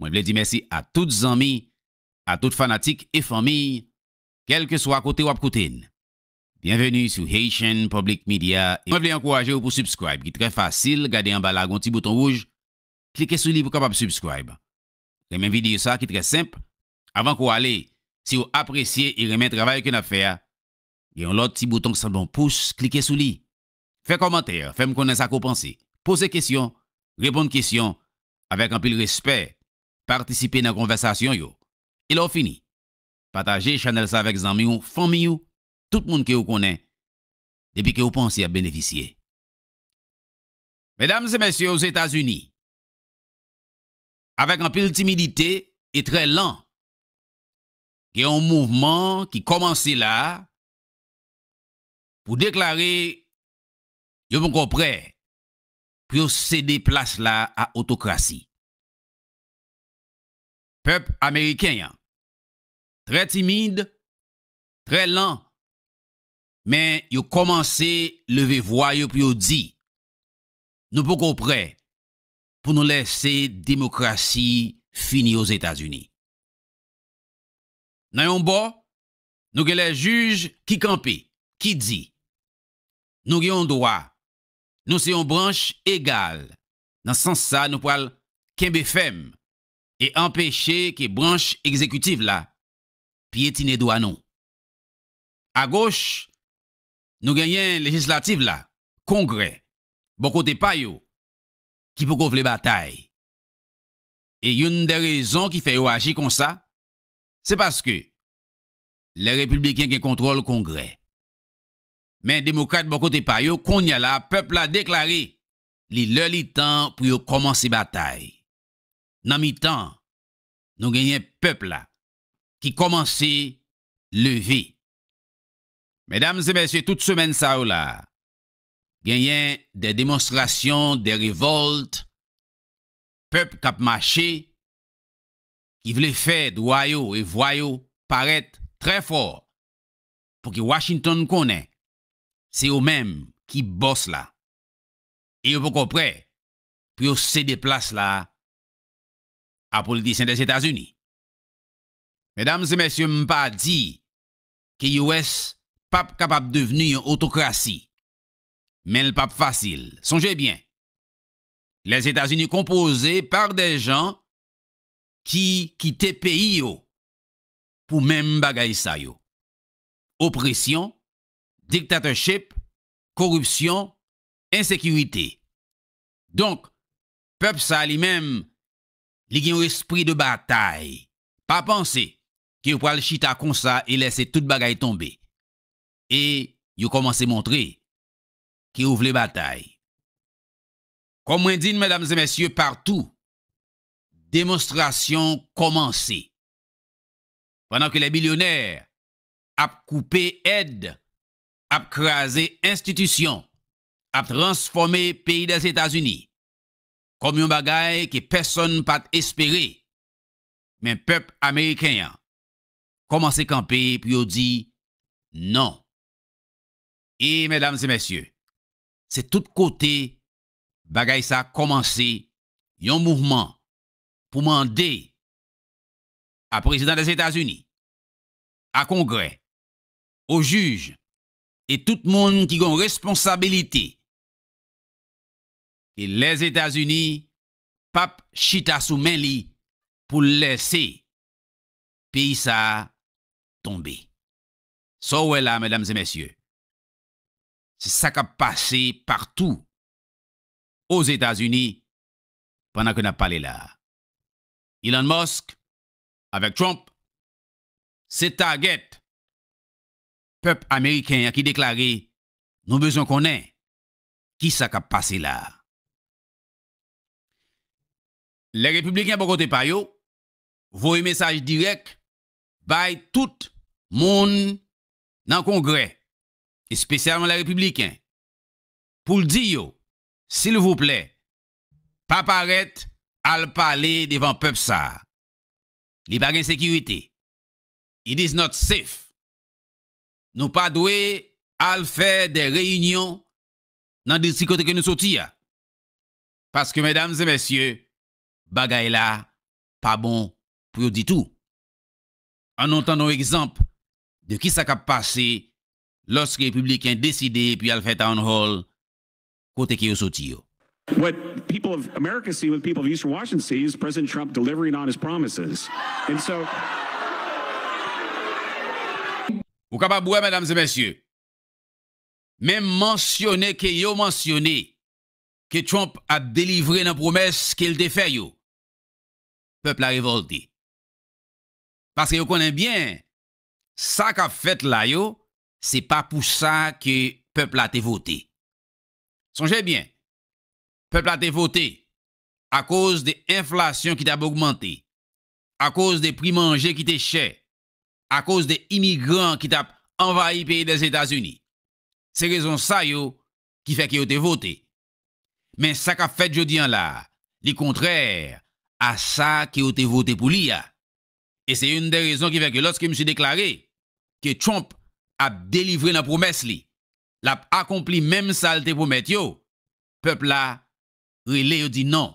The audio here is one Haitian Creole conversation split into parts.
Mwen vle di mèsi a tout zanmi, a tout fanatik e fanmiy, kèlke swa kote wap koute n. Byenveni sou Haitian Public Media e mwen vle ankouraje w pou subscribe ki trè fasil gade anba la gon ti bouton wouj klike sou li pou kapab subscribe renmen videyo sa ki trè senp avan ke w ale si w apresye e renmen travay ke nap fè a gen yon lòt ti bouton ki sanble yon pous klike sou li Fè kòmantè, fè m konnen sa ke w panse. Poze kesyon, reponn kesyon avèk anpil respè, patisipe nan konvèsasyon yo. E lè w fini, pataje chanèl sa avèk zanmi w, fanmi w, tout moun ke w konnen epi ke w panse y ap benefisye. Medam e mesye Ozetazini, avèk anpil timidite e trè lan, gen yon mouvman ki kòmanse la a, pou deklare yo poko prè pou yo sede plas la a otokrasi. Pèp ameriken an trè timid, trè lan, men yo kòmanse leve vwa yo pou yo di, Nou poko prè pou nou lèse demokrasi fini Ozetazini. Nan yon bò, Nou gen lè jij ki kanpe, ki di, Nou gen yon dwa, nou se yon branch egal, nan sans sa nou pral kenbe fèm e anpeche ke branch egzekitiv la pyetine dwa nou. Agoch, nou genyen lejislativ la, Kongrè, bò kote pa yo, ki poko vle batay. E youn dè rezon ki fè yo aji konsa, se paske lè Repibliken gen kontwòl Kongrè. Men Demokrat bò kote pa yo, kounye a la pèp la deklare li lè li tan pou yo kòmanse batay. Nan mitan, nou genyen pèp la ki kòmanse leve. Medam e mesye tout semèn sa yo la, genyen dè demonstrasyon, dè revòlt, pèp k ap mache, ki vle fè dwa yo e vwa yo parèt trè fò pou ki Washington konnen se yo menm ki bòs la e yo poko prè pou yo sede plas la a politisyen Dèzetazini. Medam e mèsye m pa di ke US pap kapab devni yon otokrasi men l pap fasil. Sonje byen Lèzetazini konpoze pa dè jan ki kite peyi yo pou menm bagay sa yo, opresyon, dictatorship, koripsyon, ensekirite. Donk, pèp sa li menm, li gen yon espri de batay. Pa panse ke yo pral chita konsa e lèse tout bagay tonbe. E yo kòmanse montre ke yo vle batay. Kòm mwen di n, medam e mesye, partou Demonstrasyon kòmanse pandan ke lè bilyonè ap koupe èd, ap kraze enstitisyon, ap transfòme peyi Dèzetazini kòm yon bagay ke pèsonn pa t espere, men pèp ameriken an kòmanse kanpe pou yo di non. E, mèdam e mèsye, se tout kote Bagay sa kòmanse yon mouvman pou mande a Prezidan Lèzetazini, a Kongrè, o jij e tout moun ki gen responsabilite ke Lèzetazini pap chita sou men li pou l lèse peyi sa tonbe. Sa w wè la, medam e mesye, Se sa k ap pase patou Ozetazini pandan ke n ap pale la a. Elon Musk avèk Trump se target pèp ameriken an ki deklare nou bezwen konnen ki sa k ap pase la a. Lè Repibliken bò kote pa yo voye mesaj dirèk bay tout moun nan Kongrè espesyalman lè repibliken, pou l di yo, silvouplè, pa parèt al pale devan pèp sa a. Li pa gen sekirite. It is not safe. Nou pa dwe al fè de reyinyon nan distri kote ke nou soti a. Paske, medam e mesye, bagay la pa bon pou yo ditou. An nou tann yon egzanp de kisa kap pase loske repibliken deside pou yal fè town hall kote ke yo soti yo. What people of America see, what people of Eastern Washington see is President Trump delivering on his promises and so. Ou kapab wè medam e mesye, menm mansyone ke yo mansyone ke Trump ap delivre nan pwomès ke l te fè yo. Pèp la revolte. paske yo konnen byen sa kap fèt la yo se pa pou sa ke pèp la te vote. Sonje byen, pèp la te vote akoz de enflasyon ki t ap ogmante, akoz de pri manje ki te chè, akoz de imigran ki t ap anvayi peyi Lèzetazini. Se rezon sa yo ki fè ke yo te vote, Men sa kap fèt jodi an la, li kontrè a sa ke yo te vote pou li a. E se youn dè rezon ki fè ke lòske misye deklare ke Trump ap delivre nan pwomès li, lap akonpli menm sa l te pwomèt yo, pèp la rele yo di non,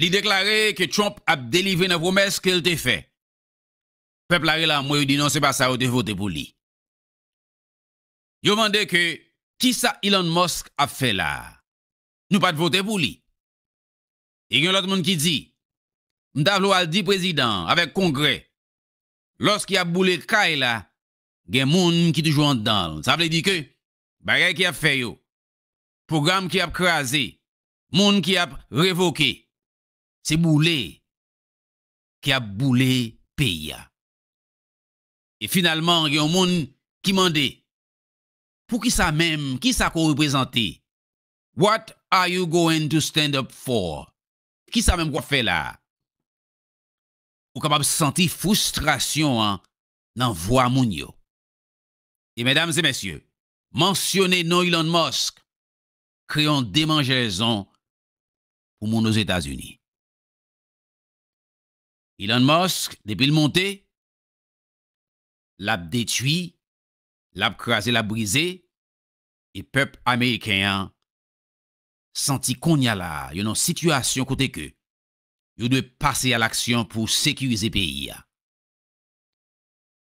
Li deklare ke Trump ap delivre nan pwomès ke l te fè. Pèp la rele anmwe yo di non se pa sa yo te vote pou li. Yo mande ke kisa Elon Musk ap fè la a? Nou pat vote pou li. E gen lòt moun ki di, M ta vle w al di prezidan an avèk kongrè lòske y ap boule kay la gen moun ki toujou anndan l. Sa vle di ke bagay ke y ap fè yo, pwogram ke y ap kraze, Moun ki ap revoke. Se boule ki ap boule peyi a. E finalman gen yon moun ki mande, Poukisa menm? Kisa ke w reprezante? What are you going to stand up for? Kisa menm ke w ap fè la a? Ou kapab santi fristrasyon an nan vwa moun yo. E medam e mesye, mansyone non Elon Musk kreye yon demanjèzon pou moun Ozetazini. Elon Musk, depi l monte, l ap detui, l ap kraze, l ap brize, e pèp ameriken an santi konnya la a, yo nan yon sitiyasyon kote ke yo dwe pase a laksyon pou sekirize peyi a.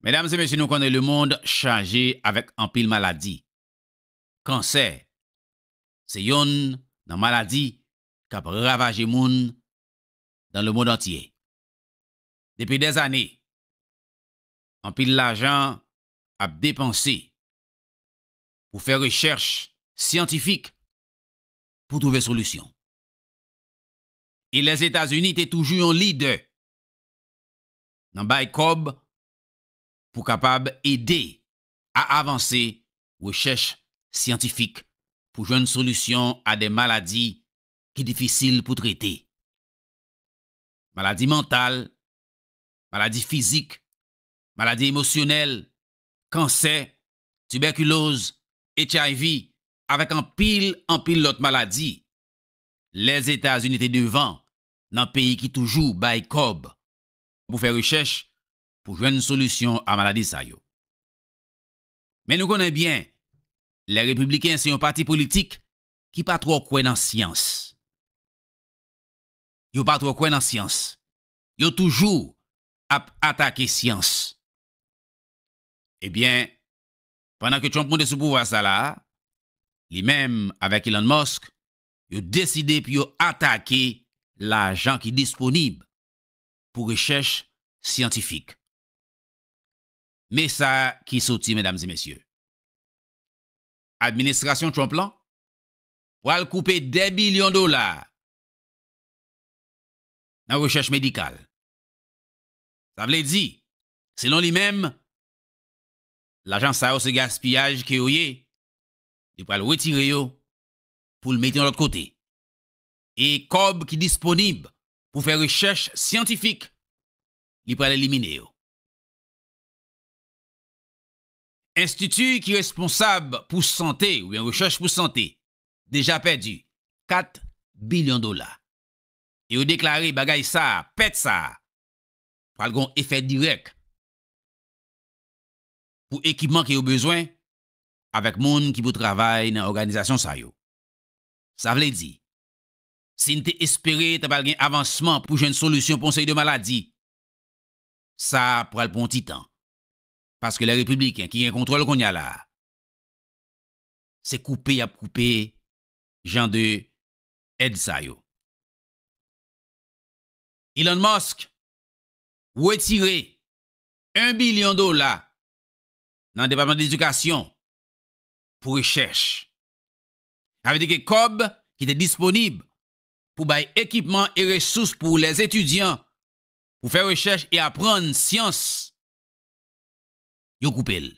Medam e mesye nou konnen lemond chaje avèk anpil maladi. Kansè se yonn nan maladi k ap ravaje moun nan lemond antye. Depi dè zane, anpil lajan ap depanse pou fè rechèch syantifik pou twouve solisyon. E Lèzetazini te toujou yon lidè nan bay kòb pou kapab ede a avanse rechèch syantifik pou jwenn solisyon a de maladi ki difisil pou trete. Maladi mantal, maladi fizik, maladi emosyonèl, kansè, tibèkiloz, HIV, avèk anpil, anpil lòt maladi. Lèzetazini te devan nan peyi ki toujou bay kòb pou fè rechèch pou jwenn solisyon a maladi sa yo. Men nou konnen byen, lè Repibliken se yon pati politik ki pa twò kwè nan syans. Yo pa twò kwè nan syans. Yo toujou ap atake syans. E byen, pandan ke Trump monte sou pouvwa sa la a, li menm avèk Elon Musk, yo deside pou yo atake lajan ki disponib pou rechèch syantifik. Me sa ki soti medam e mesye. Administrasyon Trump lan pwal koupe 2 bilyon dola nan rechèch medikal. Sa vle di, selon li menm, lajan sa yo se gaspiyaj ke yo ye, li pwal retire yo pou l mete yon lòt kote. E kòb ki disponib pou fè rechèch syantifik, li pwal elimine yo. Enstiti ki responsab pou sante oubyen rechèch pou sante deja pèdi 4 bilyon dola e yo deklare bagay sa a, pèt sa a, pral gen yon efè dirèk pou ekipman ke yo bezwen avèk moun ki pou travay nan òganizasyon sa yo. Sa vle di, si n te espere ta pral gen avansman pou jwenn solisyon pou yon seri de maladi, Sa pral pran yon ti tan. Paske lè Repibliken ki gen kontwòl kounye a la a, se koupe y ap koupe jan de èd sa yo. Elon Musk wetire 1 bilyon dola nan Depatman Ledikasyon pou rechèch. Sa vle di ke kòb ki te disponib pou bay ekipman e resous pou lèzetidyan pou fè rechèch e aprann syans, yo koupe l.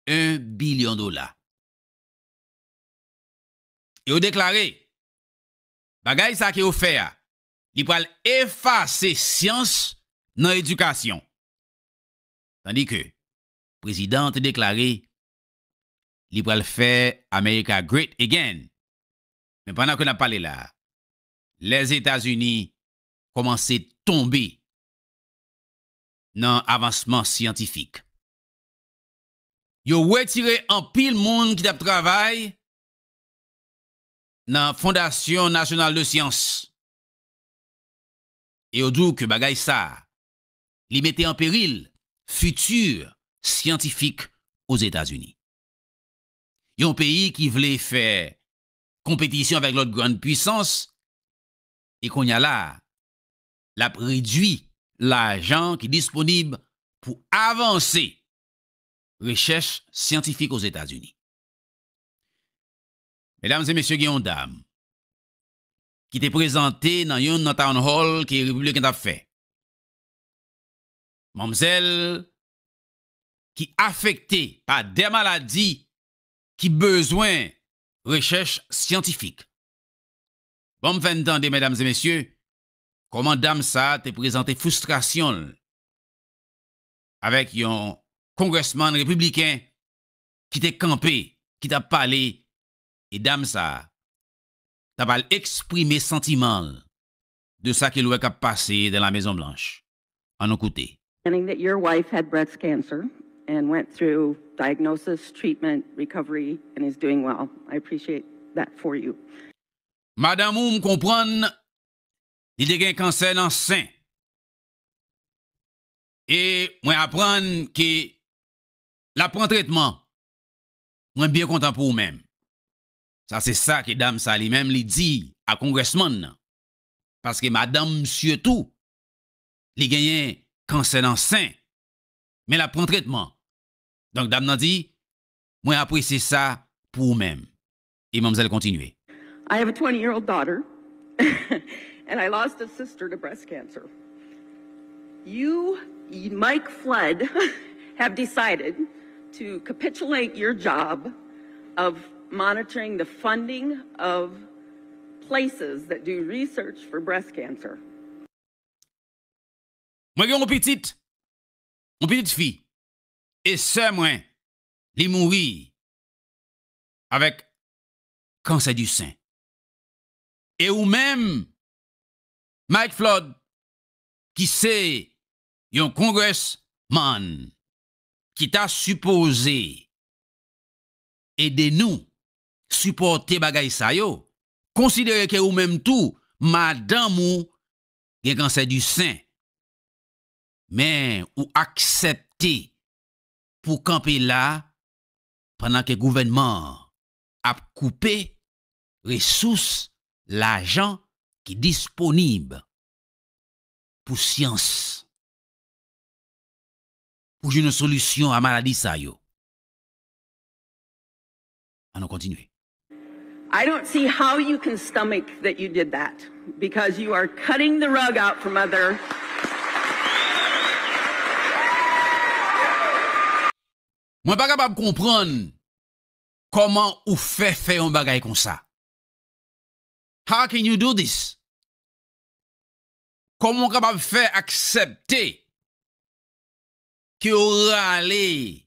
1 bilyon dola. E yo deklare, bagay sa ke yo fè a, li pral efase syans nan edikasyon. Tandi ke prezidan an te deklare, li pral fè America Great Again. Men pandan ke n ap pale la a, Lèzetazini kòmanse tonbe nan avansman syantifik. Yo wetire anpil moun ki t ap travay nan Fondasyon Nasyonal de Syans e yo di w ke bagay sa a, li mete an peril fiti syantifik Ozetazini. Yon peyi ki vle fè konpetisyon avèk lòt grann puisans e konnya la a, l ap redui lajan ki disponib pou avanse rechèch syantifik Ozetazini. Medam e mesye, gen yon dam ki te prezante nan youn nan town hall ke Repibliken t ap fè. Manmzèl ki afekte pa de maladi ki bezwen rechèch syantifik. Ban m fè n tande, medam e mesye, kòman dam sa a te prezante fristrasyon l avèk yon kongrèsman repibliken ki te kanpe, ki t ap pale e dam sa a t ap al eksprime santiman l de sa ke l wè k ap pase dan la Mezon Blanch. An nou koute. Finding that your wife had breast cancer and went through diagnosis, treatment, recovery and is doing well. I appreciate that for you. Madanm ou m konprann li te gen kansè nan sen e mwen aprann ke l ap pran tretman. Mwen byen kontan pou ou menm. Sa se sa ke dam sa li menm li di a Congressman nan. Paske madanm msye tou li genyen kansè nan sen men lap pran tretman donk dam nan di mwen apresye sa pou ou menm e manmzèl kontinye. I have a twenty year old daughter and I lost a sister to breast cancer. You Mike Flood have decided to capitulate your job of monitoring the funding of places that do research for breast cancer. Mwen gen yon pitit, yon pitit fi e sè mwen li mouri avèk kansè du sein. E ou menm Mike Flood ki se yon congress man ki ta sipoze ede nou sipòte bagay sa yo, konsidere ke ou menm tou madanm ou gen kansè di sen, men ou aksepte pou w kanpe la pandan ke gouvènman an ap koupe resous lajan ki disponib pou syans pou jwenn yon solisyon a maladi sa yo. An nou kontinye. I don't see how you can stomach that you did that because you are cutting the rug out from other Mwen pa kapab konprann kòman ou fè fè yon bagay konsa. How can you do this? Kòman ou kapab fè aksepte ke yo rale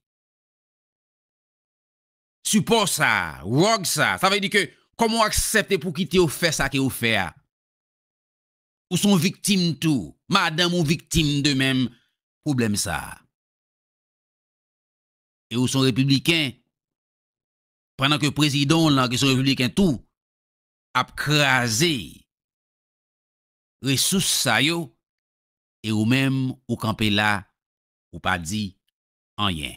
sipò sa, rug sa, sa vle di ke kòman ou aksepte pou kite yo fè sa ke ou fè a? Ou son viktim tou, madanm ou viktim de menm pwoblèm sa. E ou son repibliken, pandan ke prezidan w lan ki son repibliken tou ap kraze resous sa yo e ou menm ou kanpe la ou pa di anyen.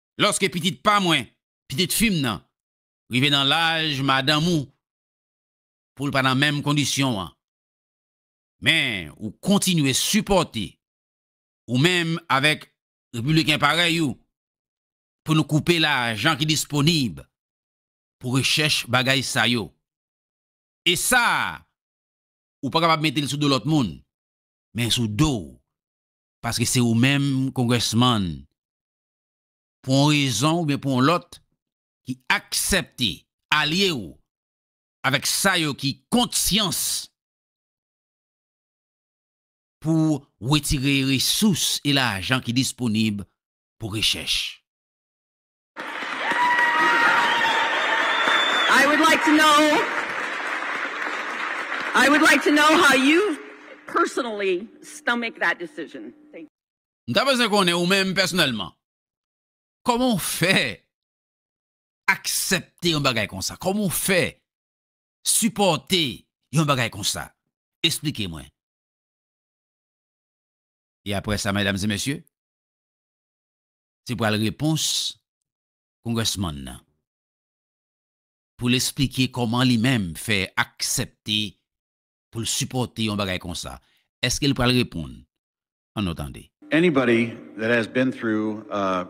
Lòske pitit pa mwen, pitit fi m nan, rive nan laj madanm ou, pou l pa nan menm kondisyon an, men ou kontinye sipòte, ou menm avèk Repibliken parèy ou, pou nou koupe lajan ki disponib pou rechèch bagay sa yo. E sa a, ou pa kapab mete l sou do lòt moun, men sou do w, paske se ou menm, Congressman, pou yon rezon oubyen pou yon lòt, ki aksepte alye ou avèk sa yo ki kont syans pou wetire resous e lajan ki disponib pou rechèch. M ta bezwen konnen ou menm pèsonèlman, kòman w fè aksepte yon bagay konsa? Kòman w fè sipòte yon bagay konsa? Esplike mwen. E aprè sa, medam e mesye, se pral repons Congressman nan pou l esplike kòman li menm fè aksepte pou l sipòte yon bagay konsa. Eske l pral reponn? an nou tande. Anybody that has been through a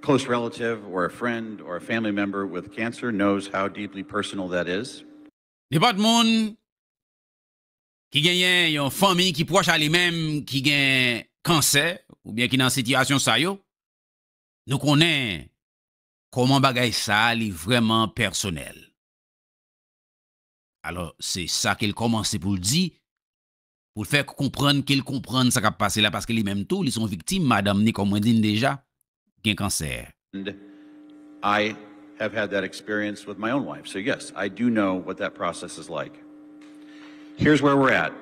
close relative or a friend or a family member with cancer knows how deeply personal that is. Nenpòt moun ki genyen yon fanmi ki pwòch a li menm ki gen kansè oubyen ki nan sitiyasyon sa yo, nou konnen kòman bagay sa a li vrèman pèsonèl. Alò, se sa ke l kòmanse pou l di, pou l fè konprann ke l konprann sa k ap pase la paske li menm tou li se yon viktim, madanm ni kòm mwen di n deja gen kansè. And I have had that experience with my own wife so yes I do know what that process is like. Here's where we're at,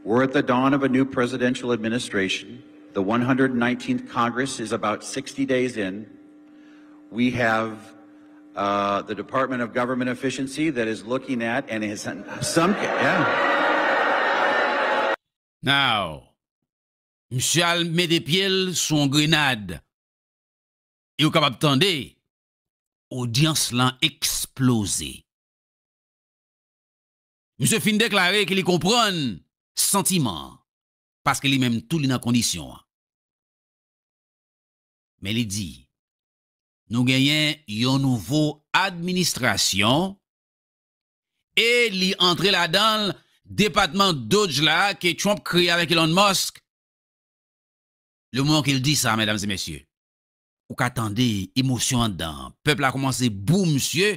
we're at the dawn of a new presidential administration, the one hundred and nineteenth Congress is about sixty days in, we have. Now, misye al mete pye l sou yon grenad e ou kapab tande odyans lan eksploze. Misye fin deklare ke li konprann santiman an paske li menm tou li nan kondisyon an. Men li di, nou genyen yon nouvo administrasyon e li antre ladan l depatman Dodge la ke Trump kreye avèk Elon Musk. Le moman ke l di sa, medam e mesye, ou ka tande emosyon anndan an. Pèp la koumanse bou misye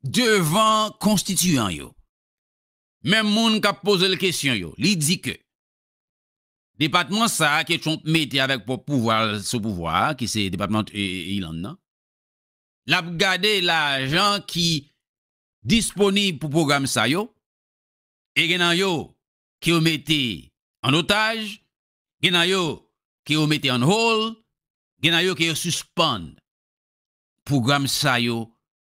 Devan konstitiyan yo, menm moun k ap poze l kesyon yo, li di ke depatman sa a ke Trump mete avèk pwòp pouvwa l sou pouvwa a, ki se depatman Ilann nan, l ap gade lajan ki disponib pou pwogram sa yo, e gen nan yo ke yo mete an otaj, gen nan yo ke yo mete on hold, gen nan yo ke yo sispann. Pwogram sa yo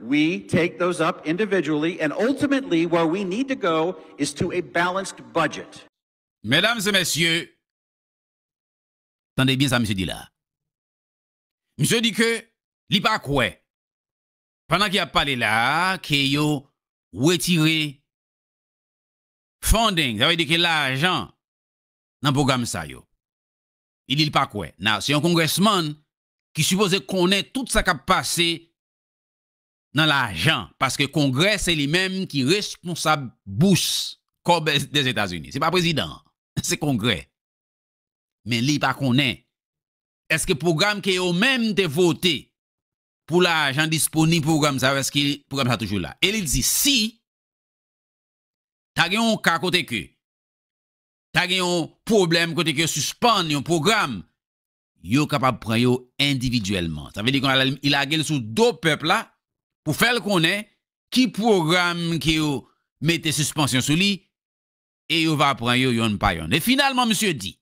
We take those up individually and ultimately where we need to go is to a balanced budget. Medam e mesye, tande byen sa misye di la. Misye di ke li pa kwè pandan ke yap pale la a ke yo wetire funding, sa vle di ke lajan nan pwogram sa yo. Li di li pa kwè. Now, se yon congressman ki sipoze konnen tout sa kap pase nan lajan paske kongrè se li menm ki responsab bous kòb Dèzetazini se pa prezidan an se kongrè men li pa konnen èske pwogram ke yo menm te vote pou lajan disponib pou pwogram sa yo èske pwogram sa toujou la e li di si ta gen yon ka kote ke ta gen yon pwoblèm kote ke yo sispann yon pwogram yo kapab pran yo endividyèlman. Sa vle di konnya li lage l sou do pèp la pou fè l konnen ki pwogram ke yo mete sispansyon sou li e yo va pran yo yonn pa yonn. E finalman misye di,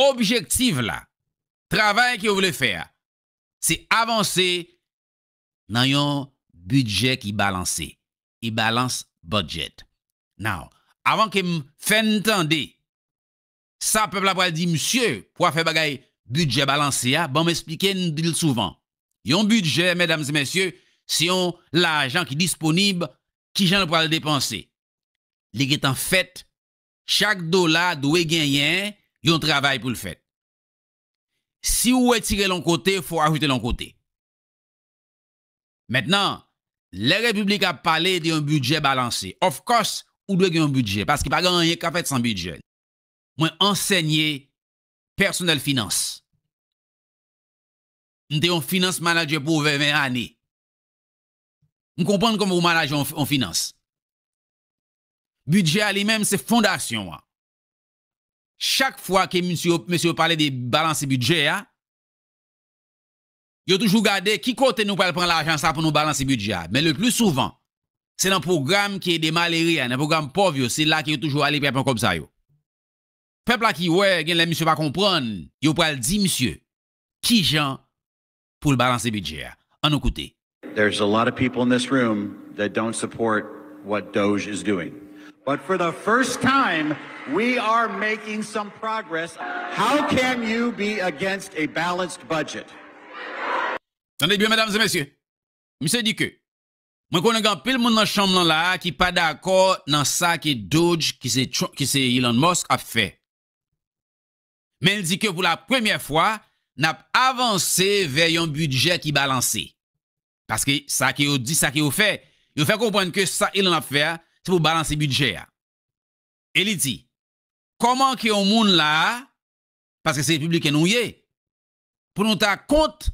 objektiv la, travay ke yo vle fè a, se avanse nan yon bidjè ki balanse, a balance budget. Now, avan ke m fè n tande Sa pèp la pral di msye pou afè bagay bidjè balanse a, banm esplike n di l souvan. Yon bidjè, medam e mesye, se yon lajan ki disponib, kijan l pral depanse? Li gen tan fèt, chak dola dwe genyen yon travay pou l fèt. Si ou wetire l yon kote, fò w ajoute l yon kote. Mentnan, lè Repiblik ap pale de yon bidjè balanse, of course ou dwe gen yon bidjè paske pa gen anyen ka fèt san bidjè. Mwen ansènye pèsonèl finans. M te yon finans manadjè pou ovè 20 ane. M konprann kòman pou manaje yon finans. Bidjè a li menm se fondasyon an. Chak fwa ke misye yo pale de balanse bidjè a, Yo toujou gade ki kote nou pral pran lajan sa pou nou balanse bidjè a. Men le pli souvan, se nan pwogram ki ede malere a, nan pwogram pòv yo, se la ke yo toujou ale pou y ap pran kòb sa yo. Pèp la ki wè, gen lè misye pa konprann, yo pral di misye ki jan pou l balanse bidjè a. An nou koute. There's a lot of people in this room that don't support what Doge is doing. But for the first time we are making some progress how can you be against a balanced budget? Tande byen medam e mesye, misye di ke mwen konnen gen anpil moun nan chanm lan la a ki pa dakò nan sa ke Dodj ki se Elon Musk ap fè. Men l di ke pou la premyè fwa nap avanse vè yon bidjè ki balanse. Paske sa ke yo di, sa ke yo fè, yo fè konprann ke sa Ilan ap fè a, se pou balanse bidjè a. E li di, Kòman ke yon moun la a, paske se Repibliken nou ye, pou nou ta kont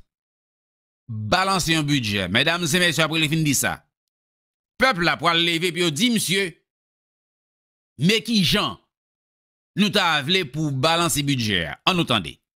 balanse yon bidjè? Medam e mesye, apre li fin di sa, pèp la pwal leve epi yo di misye, Men kijan nou ta vle pou w balanse bidjè a? An nou tande.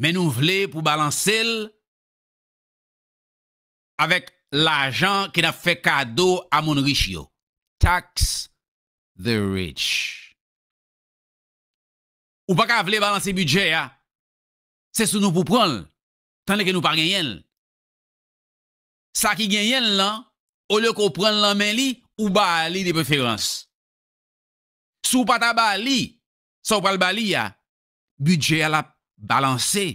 Men nou vle pou balanse l avèk lajan ke n ap fè kado a moun rich yo. Tax the rich. Ou pa ka vle balanse bidjè a, se sou nou pou pran l, tandeke nou pa genyen l. Sa ki genyen l lan, olye ke w pran l nan men li, ou ba li de preferans. Si w pa ta ba li, Sa ou pral ba li a, bidjè a l ap balanse.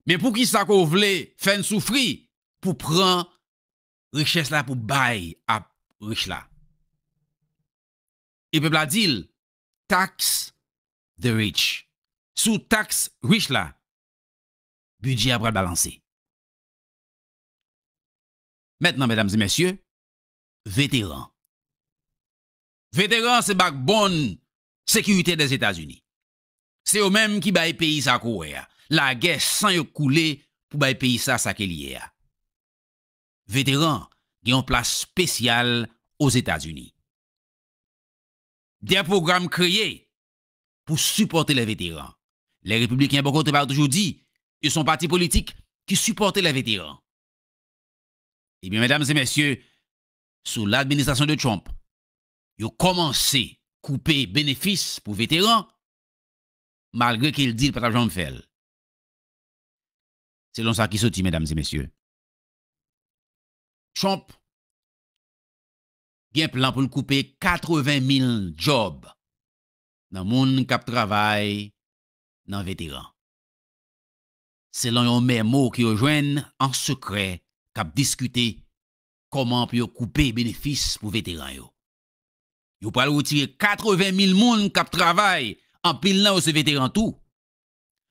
Men poukisa ke w vle fè n soufri pou pran richès la pou bay a rich la? E pèp la di l, Tax the rich. Si w taks rich la, bidjè a pral balanse. Mètnan, medam e mesye, veteran, Veteran se bakbonn sekirite Dèzetazini. Se yo menm ki bay peyi sa ko wè a. Lagè san yo koule pou bay peyi sa sa ke li ye a. Veteran gen yon plas spesyal Ozetazini. Dè pwogram kreye pou sipòte lè veteran. Lè Repibliken bò kote pa yo toujou di yo son pati politik ki sipòte lè veteran. Ebyen medam e mesye, sou ladministrasyon de Trump, yo kòmanse koupe benefis pou veteran, malgre ke l di l pa t ap janm fè l. Selon sa ki soti, medam e mesye, Trump gen plan pou l koupe 80 mil djòb nan moun k ap travay nan veteran, selon yon memo ke yo jwenn an sekrè k ap diskite kòman pou yo koupe benefis pou veteran yo. Yo pral retire 80 mil moun k ap travay, anpil nan yo se veteran tou.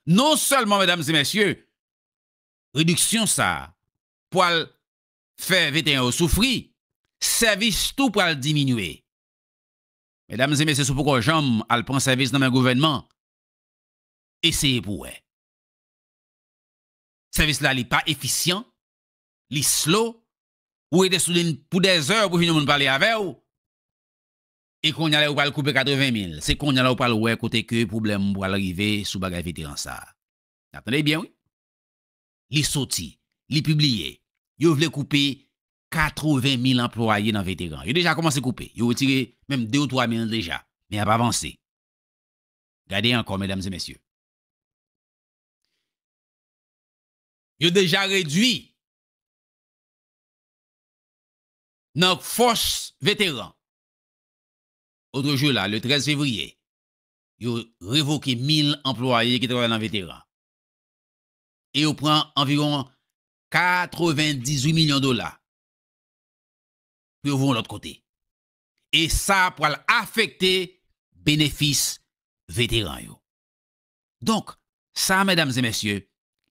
Non sèlman medam e mesye, rediksyon sa a pwal fè veteran yo soufri, sèvis tou pral diminye. Medam e mesye si w poko janm al pran sèvis nan men gouvènman, eseye pou wè. Sèvis la li pa efisyan, li slow, ou rete sou lin pou dè zè pou jwenn yon moun pale avè ou, e konnya lè ou pral koupe 80 mil, se konnya la ou pral wè kote ke pwoblèm ou pral rive sou bagay veteran sa. Nap tande byen wi. Li soti, li pibliye, yo vle koupe 80 mil anplwaye nan veteran. Yo deja kòmanse koupe, yo retire menm 2 ou 3 mil deja, men yap avanse. Gade ankò medam e mesye. yo deja redwi nan fòs veteran. Otrejou la, le 13 fevriye, yo revoke 1,000 anplwaye ki travay nan veteran e yo pran anviwon 98 milyon dola pou yo voye yon lòt kote. E sa pral afekte benefis veteran yo. Donk, sa medam e mesye,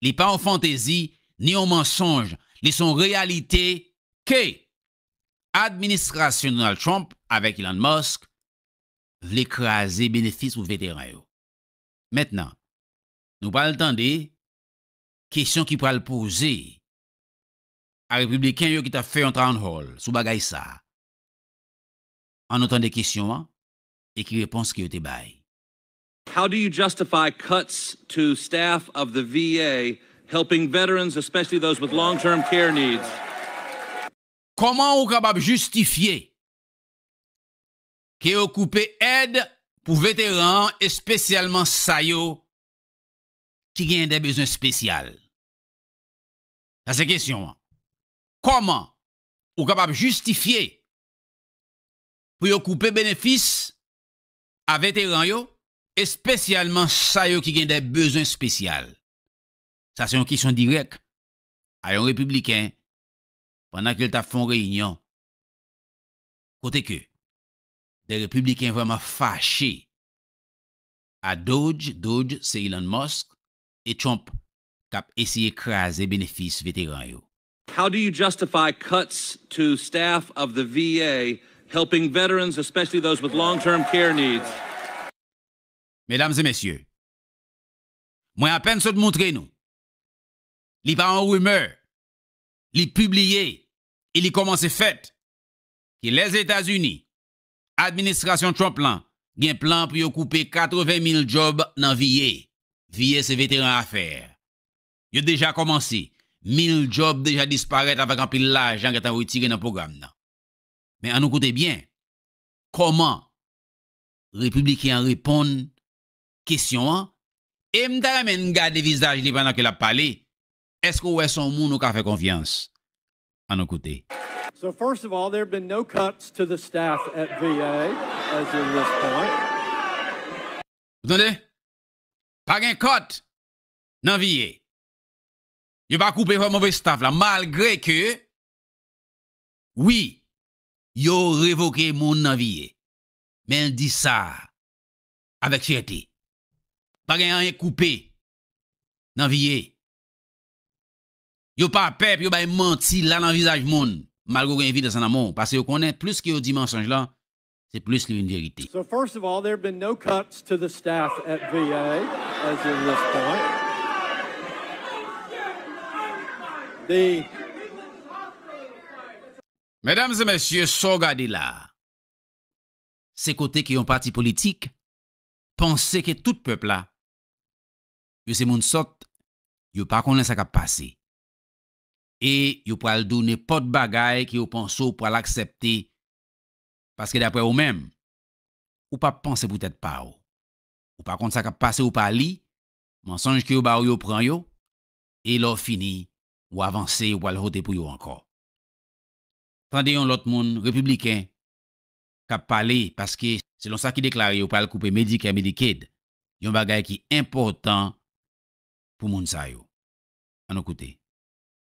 li pa yon fantezi, ni yon mansonj, li son reyalite ke administrasyon Donald Trump avèk Elon Musk vle kraze benefis pou veteran yo. Mentnan, nou pral tande kesyon ki pral poze a repibliken yo ki tap fè yon town hall sou bagay sa. An nou tande kesyon an e ki repons ke yo te bay. How do you justify cuts to staff of the VA helping veterans, especially those with long term care needs? Kòman ou kapab jistifye ke yo koupe èd pou veteran an espesyalman sa yo ki gen dè bezwen spesyal? Sa se kesyon an. Kòman ou kapab jistifye pou yo koupe benefis a veteran yo, espesyalman sa yo ki gen dè bezwen spesyal? Sa se yon kesyon dirèk a yon Repibliken pandan ke l tap fè yon reyinyon kote ke dè Repibliken vrèman fache a Dodge, Doge se Elon Musk, e Trump kap eseye kraze benefis veteran yo. How do you justify cuts to staff of the VA helping veterans, especially those with long term care needs? Medam e mesye, mwen apèn sot moutre nou, li pa yon rimè, li pibliye e li kòmanse fèt, ke Lèzetazini, administrasyon Trump lan gen plan pou yo koupe 80 mil djòb nan VA, VA se Veteran Afè, Yo deja kòmanse. Mil djòb deja disparèt avèk anpil lajan gentan retire nan pwogram nan. Men an nou koute byen kòman Repibliken an reponn kesyon an e m ta renmen n gade vizaj li pandan ke l ap pale. Èske ou wè se yon moun ou ka fè konfyans? An nou koute. So first of all there have been no cuts to the staff at VA as of this point. Ou tande? Pa gen cut nan vie. Yo pa koupe vwa move staff la malgre ke wi yo revoke moun nan vie. Men l di sa avèk fyète. Pa gen anyen k koupe nan vie. Yo pa pè pou yo bay manti la nan vizaj moun malgre w gen evidans nan men w paske yo konnen plis ke yo di mansonj lan se plis li vin verite. So first of all there have been no cuts to the staff at VA as of this point. The. Medam e mesye sa w gade la a, se kote ke yon pati politik panse ke tout pèp la yo se moun sòt, yo pa konnen sa k ap pase e yo pral di w nenpòt bagay ke yo panse w pral aksèpte Paske daprè ou menm, ou pa panse pou tèt pa ou. Ou pa konn sa k ap pase ou pa li, mansonj ke yo ba ou yo pran yo, e lè w fini, ou avanse ou pral vote pou yo ankò. Tande yon lòt moun, repibliken, k ap pale paske selon sa ki deklare yo pral koupe Medicare Medicaid, yon bagay ki enpòtan pou moun sa yo. An nou koute.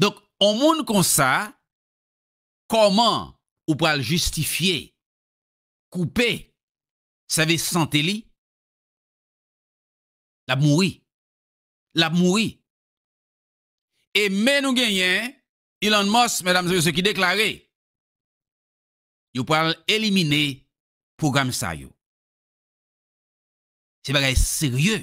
Donk on moun konsa kòman ou pral jistifye koupe sèvis sante li? L ap mouri. L ap mouri. E men nou genyen Elon Musk medam e mesye ki deklare yo pral elimine pwogram sa yo. Se bagay serye.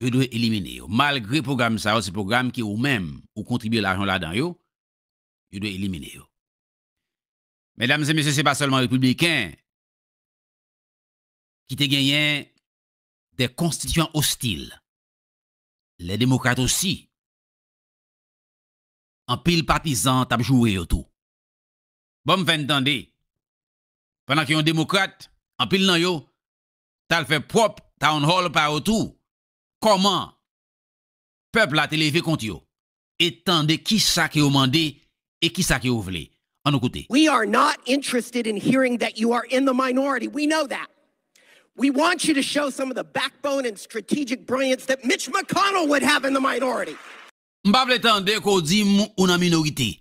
yo dwe elimine yo. Malgre pwogram sa yo se pwogram ke ou menm ou kontribye lajan w ladan yo, yo dwe elimine yo. Medam e mesye se pa sèlman repibliken ki te genyen de konstityan ostil. Le demokrat osi, anpil patizan t ap joure yo tou. Bon m fè n tande, pandan ke yon demokrat, anpil nan yo t al fè pwòp town hall pa yo tou, kòman pèp la te leve kont yo, e tande kisa ke yo mande e kisa ke yo vle. An nou koute. We are not interested in hearing that you are in the minority, we know that. We want you to show some of the backbone and strategic brilliance that Mitch McConnell would have in the minority. M pa vle tande ke w di m ou nan minorite.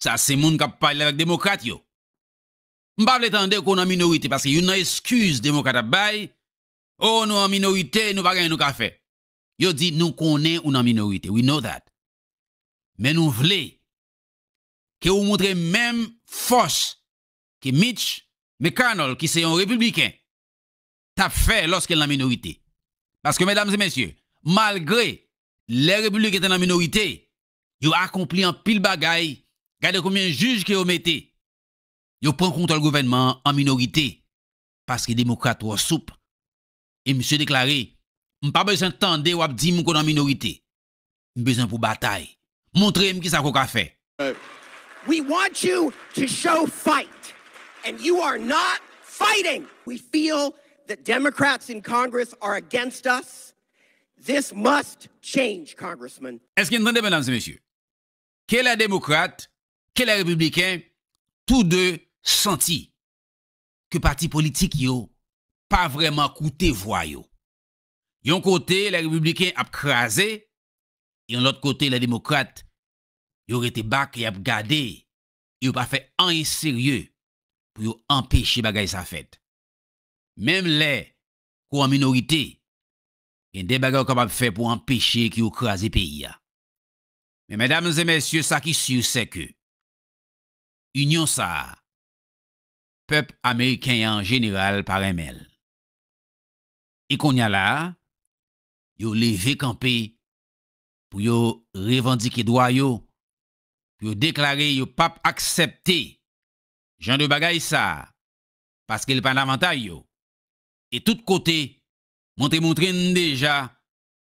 Sa se moun k ap pale avèk demokrat yo. M pa vle tande ke w nan minorite, paske youn nan eskiz demokrat ap bay, Oh nou an minorite, nou pa gen anyen nou ka fè. Yo di nou konnen ou nan minorite, we know that. Men nou vle ke ou moutre menm fòs ke Mitch McConnell ki se yon repibliken tap fè lòske l nan minorite. Paske medam e mesye, malgre lè repibliken te nan minorite, yo akonpli anpil bagay, gade konbyen jij ke yo mete, Yo pran kontwòl gouvènman an an minorite paske demokrat twò soup e misye deklare, M pa bezwen tande w ap di m ko nan minorite. M bezwen pou w batay. Montre m kisa ke w ka fè. We want you to show fight and you are not fighting. We feel the Democrats in Congress are against us. This must change, Congressman. Èske n tande, medam e mesye? ke lè demokrat, ke lè repibliken, tou de santi ke pati politik yo pa vrèman koute vwa yo. Yon kote lè repibliken ap kraze, yon lòt kote lè demokrat yo rete bak e y ap gade e yo pa fè anyen serye pou yo anpeche bagay sa fèt. Menm lè ke w an minorite, gen de bagay ou kapab fè pou anpeche ke yo kraze peyi a. Men medam e mesye sa ki sur se ke union sa a pep ameriken an jeneral pa renmen l. E konnya la a yo leve kanpe pou yo revandike dwa yo, pou yo deklare yo pap aksepte jan de bagay sa a paske l pa nan avantay yo. E tout kote montre montre n deja